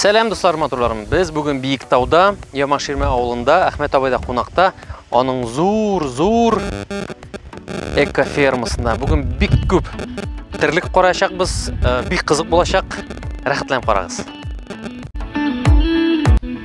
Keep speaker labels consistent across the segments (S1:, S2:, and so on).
S1: Сәлам дуслар, матурларым. Без бүген Биектауда, Ямаширмә авылында, Әхмәт абайда кунакта, аның зур-зур экофермасында. Бүген бик күп терлек караячакбыз, э, бик кызык булачак. Рәхәтләнеп карагыз.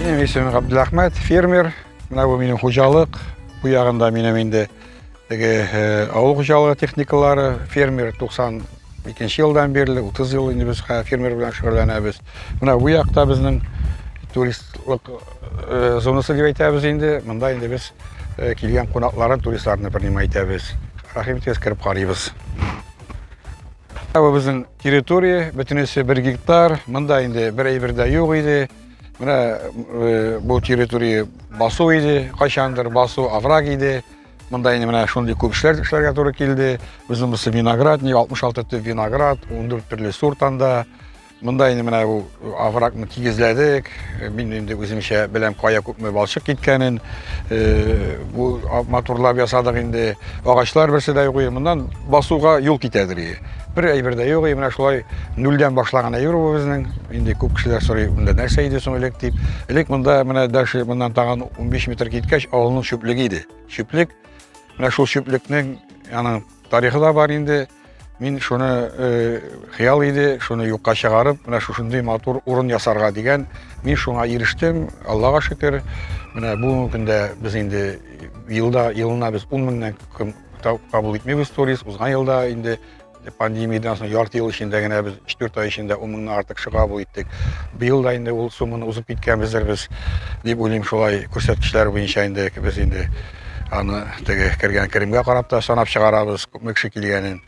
S2: Минем исемем Габдулахмәт, фермер. Менә бу минем хуҗалык. Бу ягында минем инде теге э, авыл хуҗалыгы техникалары, фермер 92 елдан бирле, 30 ел инде без фермер белән шөгыльләнәбез. Менә бу якта безнең туристлык э, зонасы дип әйтәбез инде. Монда инде без э, килгән кунакларын, туристларны принимать итәбез. Рәхим итегез, кереп карыйбыз. Ә бу безнең территория, бөтенесе бер гектар. Монда инде бер әйбер дә юк иде. Менә э, бу территория басу иде, кайчандыр басу овраг иде. Монда инде менә шундый күп эшләр эшләргә туры килде. Безнең бусы виноградник, 66 төп виноград, 14 төрле сорт анда. Монда инде менә бу оврагны тигезләдек. Мин инде үземчә беләм кая күпме балчык киткәнен. Э, бу матурлап ясадык инде. Агачлар берсе дә юк. Моннан басуга юл китәдер. Бер әйбер дә юк. Менә шулай нөлдән башлаган әйбер бу безнең. Инде күп кешеләр сорый, монда нәрсә иде соң элек дип. Элек монда менә дәше моннан тагын 15 метр киткәч авылның чүплеге иде. Чүплек. Менә шул чүплекнең аның тарихы да бар инде. Мин шуны э, хыял иде, шуны юкка чыгарып, менә шушындый матур урын ясарга дигән. Мин шуңа ирештем, Аллага шөкер. Менә бүгенге көндә без инде елда елына без 10 меңнән кем кабул итмибез турист. Узган елда инде пандемиядан соң ярты ел эчендә генә без 4 ай эчендә 10 меңнән артык чыга бу иттек. Быел да инде ул сумманы узып киткәнбездер без дип уйлыйм шулай күрсәткечләр буенча инде без инде Аны теге кергән керемгә карап та санап чыгарабыз, күпме кеше килгәнен.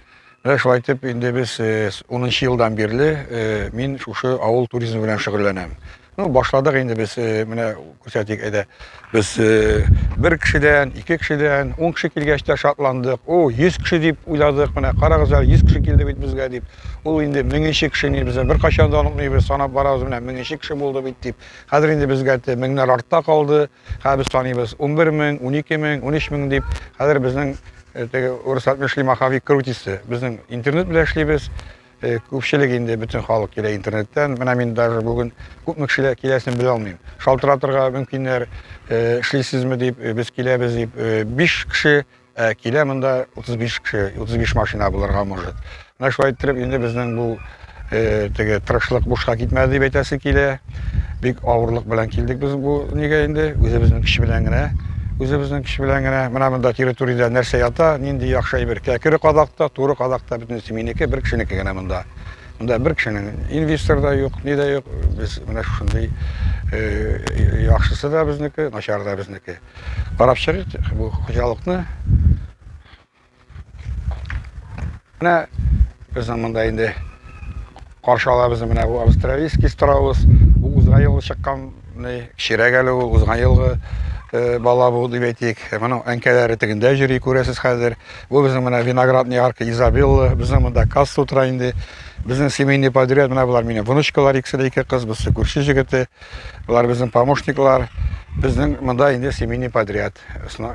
S2: Менә шулай итеп, инде без 10 елдан бирле мин шушы авыл туризмы белән шөгыльләнәм. Ну, башладык инде без, менә күрсәтик, әйдә. Без бер кешедән, ике кешедән, 10 кеше килгәч тә шатландык. О, 100 кеше дип уйладык. Менә карагыз әле, 100 кеше килде бит безгә дип. Ул инде меңенче кеше ни, без беркайчан да онытмыйбыз, санап барабыз, менә меңенче кеше булды бит дип. Хәзер инде безгә меңнәр артта калды. Хәзер без саныйбыз, унбер мең, унике мең, унөч мең дип. Хәзер безнең теге урыслар эшли маховик крутится. Безнең интернет белән эшлибез. Күпчелек инде бөтен халык килә интернеттан. Менә мин даже бүген күпме кешеләр киләсен белә алмыйм. Шалтыратырга мөмкиннәр, эшлисезме дип, без киләбез дип. Биш кеше Ә килә монда 35 кеше, 35 машина булырга может. Менә шулай иттереп инде безнең бу э, теге тырышлык бушка китмәде дип әйтәсе килә. Бик авырлык белән килдек без бу нигә инде, үзебезнең көч белән генә. Үзебезнең көч белән генә. Менә монда территориядә нәрсә ята, нинди яхшы әйбер. Кәкере кадакта, туры кадакта бөтенесе минеке, бер кешенеке генә монда. Монда бер кешенең инвестор да юк, ни дә юк. Без менә шушындый э, яхшысы да безнеке, начары да безнеке. Карап чыгыйк бу хуҗалыкны. Менә безнең монда инде каршы ала безне менә бу австралийский страус. Бу узган елгы чыккан кечерәк әле ул, узган елгы э, бала бу дип әйтик. Моның әнкәләре тегендә йөри, күрәсез хәзер. Бу безнең менә виноградный арка Изабелла, безнең монда касса утыра инде. Безнең семейный подряд менә болар минем внучкалар икесе дә ике кыз, берсе күрше җегете. Болар безнең помощниклар. Безнең монда инде семейный подряд.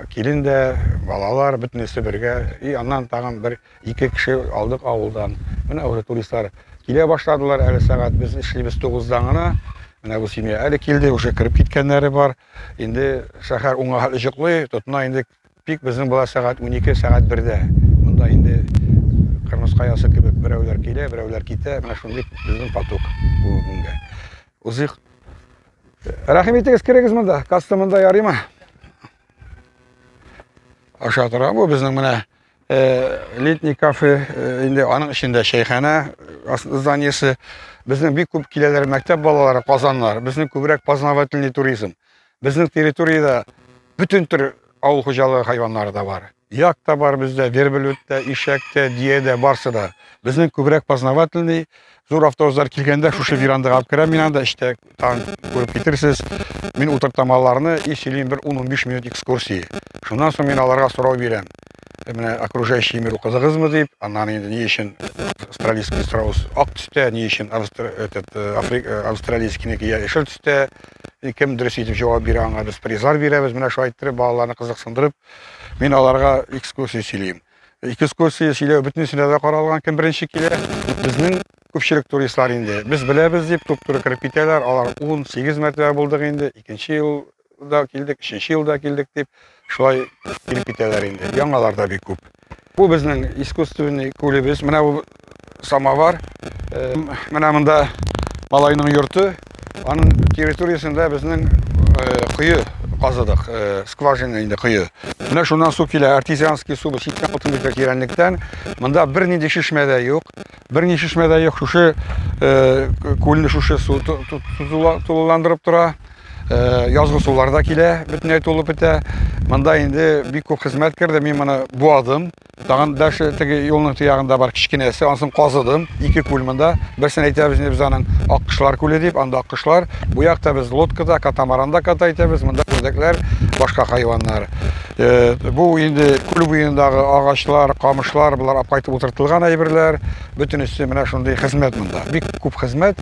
S2: Килен дә, балалар бөтенесе бергә. И аннан тагын бер ике кеше алдык авылдан. Менә уже туристлар килә башладылар. Әле сәгать без эшлибез 9-дан гына. Менә бу семья әле килде, уже кереп киткәннәре бар. Инде шәһәр уңа хәтле җоклый, тотына инде. Пик безнең була сәгать 12, сәгать 1-дә. Монда инде Кырмыска ясы кебек берәүләр килә, берәүләр китә. Менә шундый безнең поток бүгенгә. Узыйк. Рәхим итегез, керегез монда. Каста монда ярыймы? Аша тора бу безнең менә э, летний кафе, э, инде аның эчендә чәйханә э, зданиесе. Безнең бик күп киләләр мәктәп балалары, казаннар. Безнең күбрәк познавательный туризм. Безнең территориядә бөтен төр авыл хуҗалыгы хайваннары да бар. Як та бар бездә, верблюд та, ишәк тә, дия дә, барсы да. Безнең күбрәк познавательный. Зур автобуслар килгәндә шушы верандага алып керәм мин анда, эчтә таң күреп китерсез. Мин утыртам аларны и сөйлим бер 10-15 минут экскурсии. Шуннан соң мин аларга сорау бирәм. менә окружающий мир укыдыгызмы дип, аннан инде ни өчен австралийский страус ак төстә, ни өчен этот э, африк э, австралийскийники яшел төстә. Кем дөрес итеп җавап бирә аңа без призлар бирәбез. Менә шулай иттереп балаларны кызыксындырып, мин аларга экскурсия сөйлим. Экскурсия сөйләү бөтенесенә дә каралган, кем беренче килә. Безнең күпчелек туристлар инде. Без беләбез дип туп-туры кереп китәләр. Алар 18 мәртәбә булдык инде. Икенче ел да килдек, өченче елда килдек дип, шулай килеп китәләр инде. Яңалар да бик күп. Бу безнең искусственный күлебез. Менә бу самовар. Э, менә монда малайның йорты. Аның территориясендә безнең э, кое казыдык, э, скважина инде кое. Менә шуннан су килә, артезианский су, читтән утын кирәнлектән. Монда бернинди шишмә дә юк. Бер ни шешмә дә юк, шушы күлне шушы су тулыландырып тора. Язгы сулар да килә, бөтенләй тулып бетә. Монда инде бик күп хезмәт керде. Мин моны буадым. Тагын дәше теге юлның тиягында бар кечкенәсе, ансын казыдым. Ике күл монда. Берсен әйтәбез инде без аның Аккышлар күле дип, анда аккышлар. Бу якта без лодкада, катамаранда ката итәбез. Монда үрдәкләр, башка хайваннар. Э, бу инде күл буендагы агачлар камышлар болар алып кайтып утыртылган әйберләр бөтенесе менә шундый хезмәт монда бик күп хезмәт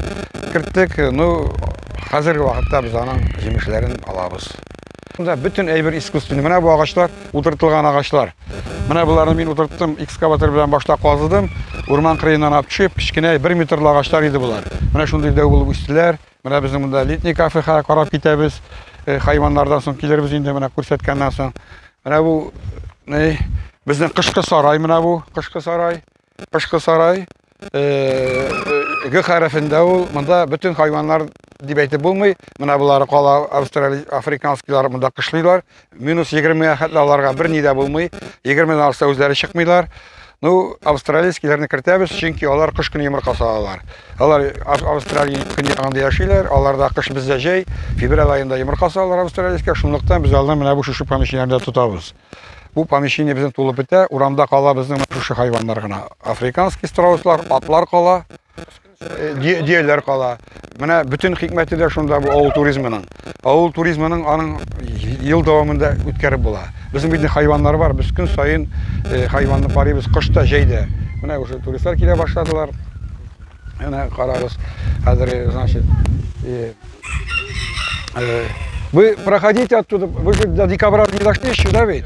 S2: керттек ну хәзерге вакытта без аның җимешләрен алабыз Монда бөтен әйбер искусственный. Менә бу агачлар, утыртылган агачлар. Менә боларны мин утырттым, экскаватор белән башта казыдым. Урман кырыеннан алып төшеп, кечкенә 1 метрлы агачлар иде болар. Менә шундый дәү булып үстеләр. Менә безнең монда летний кафега карап китәбез. Э, хайваннардан соң килербез инде менә күрсәткәннән соң. Менә бу ни? Безнең кышкы сарай менә бу, кышкы сарай. Кышкы сарай. Э, э, Г хәрефендә ул. Монда бөтен хайваннар дип әйтеп булмый. Менә булары кала австралий африканскийлар монда кышлыйлар. Минус 20-гә хәтле аларга бер ни дә булмый. 20-дән алса үзләре чыкмыйлар. Ну, австралийскийләрне кертәбез, чөнки алар кыш көне йомырка салалар. Алар Австралия көньягында яшиләр, аларда кыш бездә җәй, февраль айында йомырка салалар австралийскә, шунлыктан без аларны менә бу шушы помещениеләрдә тотабыз. Бу помещение безнең тулып бетә, урамда кала безнең шушы хайваннар гына. Африканский страуслар, атлар кала, дөяләр кала. Менә бөтен хикмәте дә шунда бу авыл туризмының. Авыл туризмының аның ел дәвамында үткәреп була. Безнең бит хайваннар бар, без көн саен э, хайванны карыйбыз, кыш та, җәй дә. Менә уже туристлар килә башладылар. Менә карагыз, хәзер, э, значит, э, вы проходите оттуда, вы же до декабря не дошли еще, да ведь?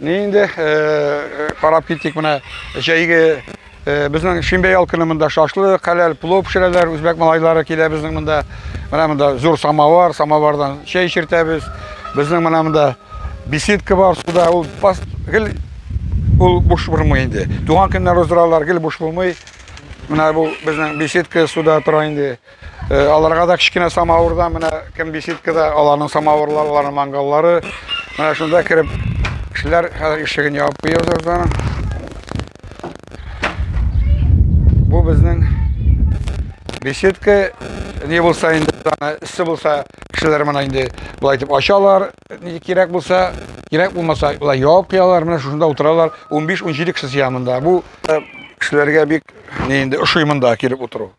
S2: Ни инде карап киттек менә җәйге безнең шимбә ял көне монда шашлы, хәләл плов пешерәләр, үзбәк малайлары килә безнең монда. Менә монда зур самовар, самовардан чәй эчертәбез. Безнең менә монда беседка бар суда, ул гел ул буш булмый инде. Туган көннәр уздыралар, гел буш булмый. Менә бу безнең беседка суда тора инде. Э, аларга да кечкенә самавырда менә кем беседкада аларның самавырлары аларның мангаллары менә шунда кереп кешеләр хәзер ишеген ябып куябыз аны бу безнең беседка не булса инде аны эссе булса кешеләр менә инде болай итеп ачалар кирәк булса кирәк булмаса болай ябып куялар менә шушында утыралар 15-17 кеше сыя монда бу э, кешеләргә бик не инде ошый монда килеп утыру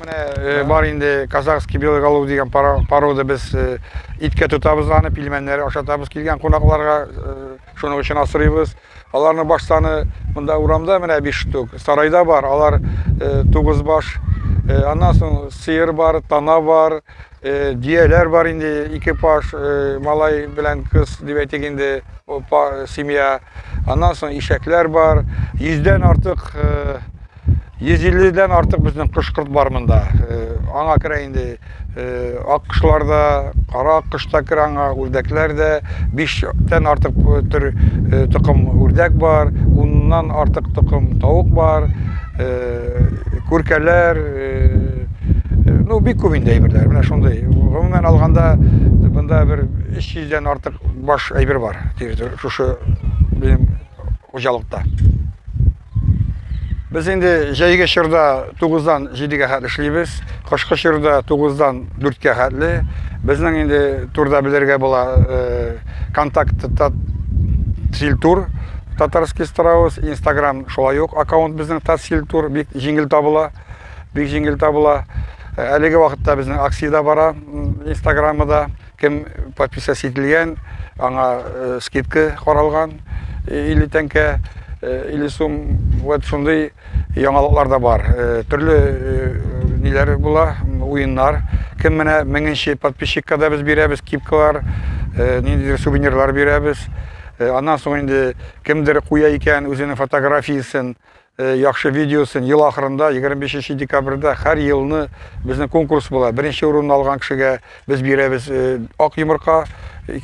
S2: Менә бар инде казахский белый голубь дигән порода без иткә тотабыз аны, пилмәннәр ашатабыз килгән кунакларга, шуның өчен асырыйбыз. Аларны баш саны монда урамда менә 5 штук, сарайда бар, алар 9 баш. Аннан соң сыер бар, тана бар, дияләр бар инде, ике паш, малай белән кыз дип әйтик инде, семья. Аннан соң ишәкләр бар, 100 дән артык 150 дән артык безнең кош-корт бар монда. Э, аңа керә инде э, аккошлар да, кара аккош та керә аңа, үрдәкләр дә. 5 тән артык э, төр токым үрдәк бар, уннан артык токым тавык бар, күркәләр, ну бик күп инде әйберләр. Менә шундый. Гомумән алганда монда бер 300 дән артык баш әйбер бар. Шушы безнең хуҗалыкта. Без инде җәйге чорда 9-дан 7-гә хәтле эшлибез, кышкы чорда 9-дан 4-кә хәтле. Безнең инде турда белергә була э, контакт Тильтур татарский страус, инстаграм шулай ук аккаунт безнең Тацильтур бик җиңел табыла. Бик җиңел табыла. Әлеге вакытта безнең акция бара инстаграмы да. Кем подписясь ителгән, аңа скидка каралган, 50 тәңкә, 50 сум. Вот шундый яңалыклар да бар. Төрле ниләр була, уеннар. Кем менә меңенче подписчикка да без бирәбез кипкалар, ниндидер сувенирлар бирәбез. Аннан соң инде кемдер куя икән үзенең фотографиясен, Э, яхшы видеосын ел ахырында 25 декабрьдә һәр елны безнең конкурс була. Беренче урынны алган кешегә без бирәбез э, ак йомырка,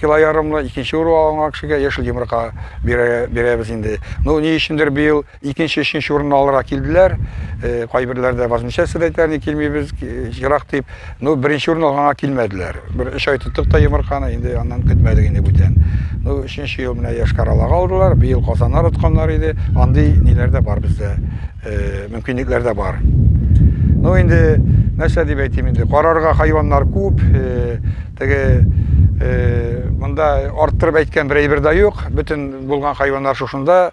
S2: кило ярымлы, икенче урын алган кешегә яшел йомырка бирәбез инде. Ну, ни өчендер быел икенче, өченче урынны алырга килделәр. Э, кайберләр дә возмущаться әйтәләр, ни килмибез, ерак дип. Ну, беренче урын алганга килмәделәр. Бер өч ай тоттык та йомырканы, инде аннан көтмәдек инде бүтән. Ну, өченче ел менә Яшкаралага алдылар, быел Казаннар отканнар иде. Андый ниләр дә бар бездә, э, мөмкинлекләр дә бар. Ну, инде нәрсә дип әйтим инде, карарга хайваннар күп, э, теге э, монда арттырып әйткән бер әйбер дә юк, бөтен булган хайваннар шушында.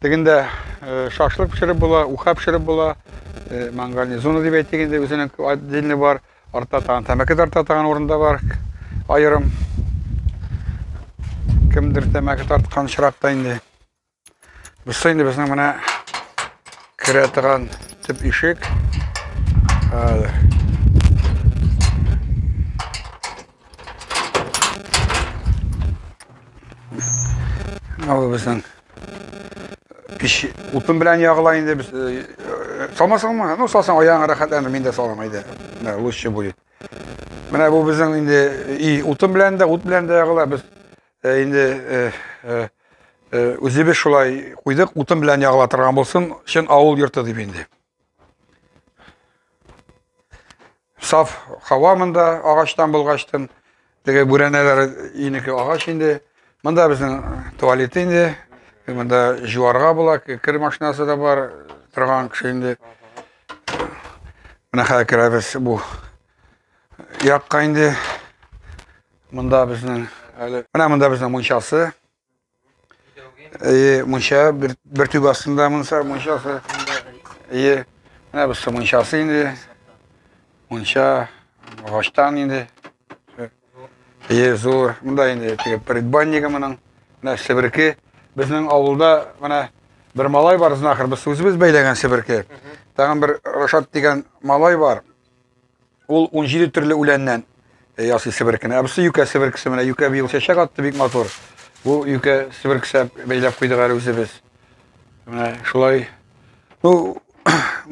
S2: Тегендә шашлык пешереп була, уха пешереп була. Мангальный зона дип әйтик инде, үзенең отдельный бар. Артта тагын тәмәке тарта тагын урында бар. Аерым. Кемдер тәмәке тарткан чиракта инде. Бусы инде безнең менә керә торган төп ишек. Ау безнең Пич утын белән ягыла инде без. Салмасыңмы? Ну, салсаң аяңа рәхәтләнер, мин дә салам әйдә. Менә лучше будет. Менә бу безнең инде и утын белән дә, ут белән дә ягыла. Без инде үзебез шулай куйдык, утын белән ягыла торган булсын, чын авыл йорты дип инде. Саф хава монда агачтан булгачтын. Теге бүрәнәләр инеке агач инде. Монда безнең туалет инде. Монда жуарга була, кер машинасы да бар, торган кеше инде. Менә хәзер керәбез бу якка инде. Монда безнең әле. Менә монда безнең мунчасы. Әйе, мунча бер, бер түбә астында мунса мунчасы. Әйе, менә бусы мунчасы инде. Мунча агачтан инде. Әйе, зур. Монда инде теге предбаннигы моның. Менә себерке. Безнең авылда менә бер малай бар, знахар, без үзебез бәйләгән себерке. Тагын бер Рашат дигән малай бар. Ул 17 төрле үләннән э, ясый себеркене. Ә бусы юкә себеркесе менә. Юкә быел чәчәк атты бик матур. Бу юкә себеркесе бәйләп куйдык әле үзебез. Менә шулай. Ну,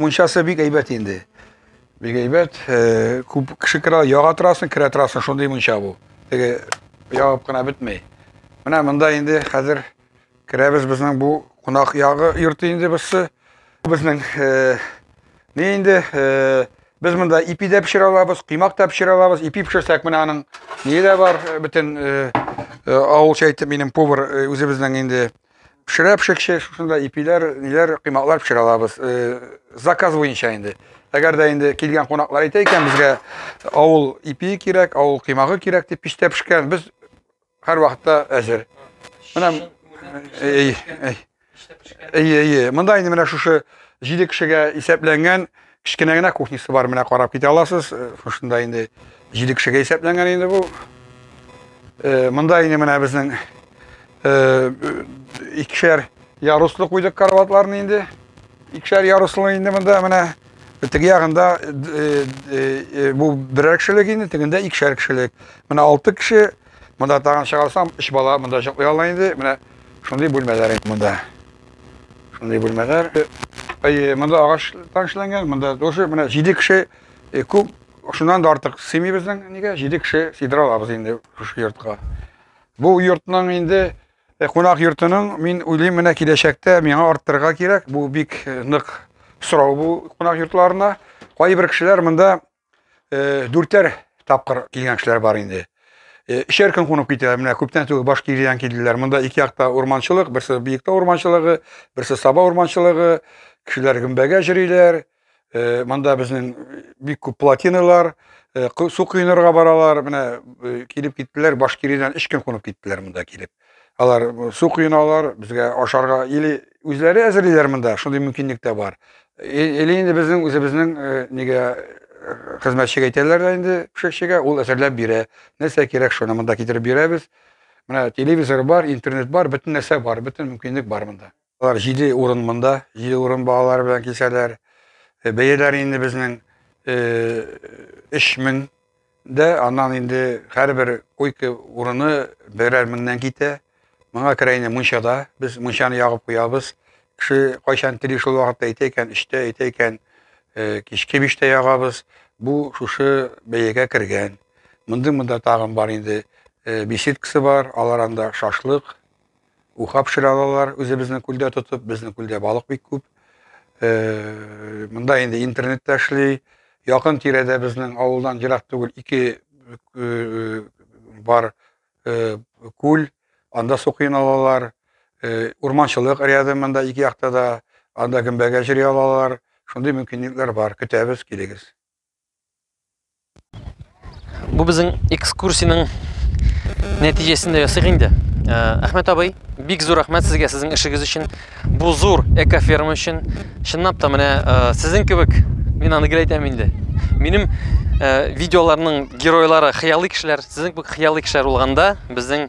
S2: мунчасы бик әйбәт инде. Бик әйбәт. Э, күп кеше керә, яга торасың, керә торасың, шундый мунча бу. Теге ягып кына бетмәй. Менә монда инде хәзер Керәбез безнең бу кунак ягы йорты инде берсе. Безнең э, не инде э, без монда ипи дә пешерә алабыз, коймак та пешерә алабыз. Ипи пешерсәк менә аның не дә бар, э, бөтен э, э, авылча әйтеп минем повар э, үзебезнең инде пешерә пешекче, шушында ипиләр, ниләр, коймаклар пешерә алабыз. Э, заказ буенча инде. Әгәр дә инде килгән кунаклар әйтә икән, безгә авыл ипи кирәк, авыл коймагы кирәк дип пиштә пешкән. Без Һәрвакытта әзер. Менә әй, әй. Әй, әй, монда инде менә шушы 7 кешегә исәпләнгән кечкенә генә кухнясы бар, менә карап китә аласыз. Э, шушында инде 7 кешегә исәпләнгән инде бу. Э, монда инде менә безнең э, икешәр яруслы куйдык караватларны инде. Икешәр яруслы инде монда менә Теге ягында бу берәр кешелек инде, тегендә икешәр кешелек. Менә алты кеше, монда тагын чыгарсам, өч бала монда йоклый ала инде. Менә шундый бүлмәләр инде монда. Шундый бүлмәләр. Әйе, монда агач танышланган, монда тоже менә җиде кеше күп, шуннан да артык сыймый безнең нигә, җиде кеше сыйдыра алабыз инде шушы йортка. Бу йортның инде Э, кунак йортының мин уйлыйм менә киләчәктә миңа арттырырга кирәк бу бик э, нык сорау бу кунак йортларына кайбер кешеләр монда э, дүртәр тапкыр килгән кешеләр бар инде өчәр көн кунып китә менә күптән түгел башкириян килделәр монда ике якта урманчылык берсе биектау урманчылыгы берсе саба урманчылыгы кешеләр гөмбәгә җөриләр Э, монда безнең э, бик күп плотиналар э, су коенырга баралар менә килеп киттеләр башкиридән өч көн кунып киттеләр монда килеп алар су коеналар безгә ашарга или үзләре әзерлиләр монда шундый мөмкинлек тә бар или инде безнең үзебезнең нигә хезмәтчегә әйтәләр дә инде пешекчегә ул әзерләп бирә нәрсә кирәк шуны монда китереп бирәбез менә телевизор бар интернет бар бөтен нәрсә бар бөтен мөмкинлек бар монда Алар җиде урын монда, җиде урын балалар белән кисәләр. Э, бәяләр инде безнең э, өч мең дә, аннан инде һәрбер койка урыны берәр меңнән китә. Моңа керә инде мунчада, без мунчаны ягып куябыз. Кеше кайчан тели шул вакытта әйтә икән, өчтә әйтә икән, э, кичке биштә ягабыз. Бу шушы бәягә кергән. Мондый монда тагын бар инде. Беседкасы бар, алар анда шашлык Уха пешерә алалар, үзебезнең күлдә тотып, безнең күлдә балык бик күп. Э, монда инде интернет та эшли. Якын тирәдә безнең авылдан ерак түгел ике э, бар э, күл, анда су кыйн алалар. Урманчылык ряды монда ике якта да, анда гөмбәгә җыри алалар. Шундый мөмкинлекләр бар. Көтәбез, килегез.
S1: Бу безнең экскурсиянең нәтиҗәсендә ясыйк инде. Э, Әхмәт абый, бик зур рәхмәт сезгә сезнең эшегез өчен. Бу зур экоферма өчен. Чынлап та менә э, сезнең кебек мин аны гел әйтәм инде. Минем э, видеоларның геройлары хыялый кешеләр, сезнең кебек хыялый кешеләр булганда безнең